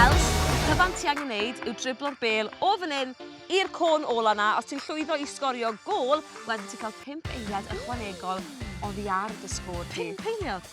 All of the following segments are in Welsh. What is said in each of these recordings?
Els, be bant ti angen wneud yw driblo'r bêl o fan hyn i'r côn ola na. Os ti'n llwyddo i sgorio gol, wedyn ti'n cael 5 eiliad ychwanegol oddi ar dy sgôr di. 5 eiliad?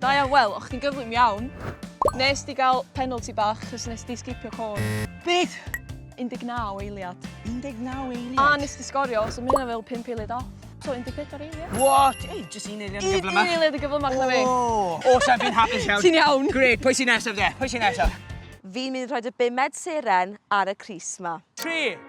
Da iawn, wel, o'ch chdi'n gyflym iawn. Nes di gael penalty bach, chos nes di sgipio côn. Beth? 19 eiliad. 19 eiliad? A nes di sgorio, so mae hynna fel 5 eiliad off. So, 14 eiliad. What? Ei, jyst un eiliad yn gyflymach. Un eiliad yn gyflymach na fi. O, sa'n fi'n hapus iawn. Ti'n iawn. Gret, pwy sy'n nesaf de? Pwy sy'n nesaf? Fi'n mynd i rhoi dy bumed seren ar y crys ma. 3,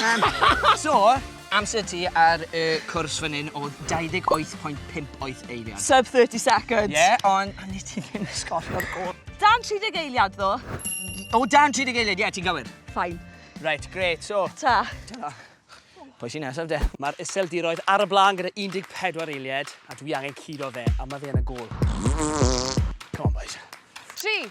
Um, so, amser ti ar y cwrs fan hyn oedd 28.58 eiliad. Sub 30 seconds. Ie, yeah, ond a ni ti'n mynd sgorio'r gol. Dan 30 eiliad ddo. O, dan 30 eiliad, ie, yeah, ti'n gywir. Fine. Right, great, so. Ta. Ta. Pwy sy'n nesaf de? Mae'r iseldiroedd ar y blaen gyda 14 eiliad, a dwi angen curo fe, a mae fe yn y gol. Come on, boys. 3,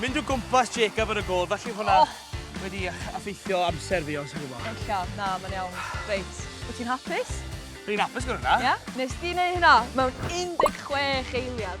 Mynd o gwmpas Jacob yn y gôl, felly hwnna wedi effeithio amser fi, os ti'n gwybod. Ella, na, mae'n iawn. Reit, wyt ti'n hapus? Dwi'n hapus gyda hwnna. Ie? Nes di wneud hynna mewn 16 eiliad.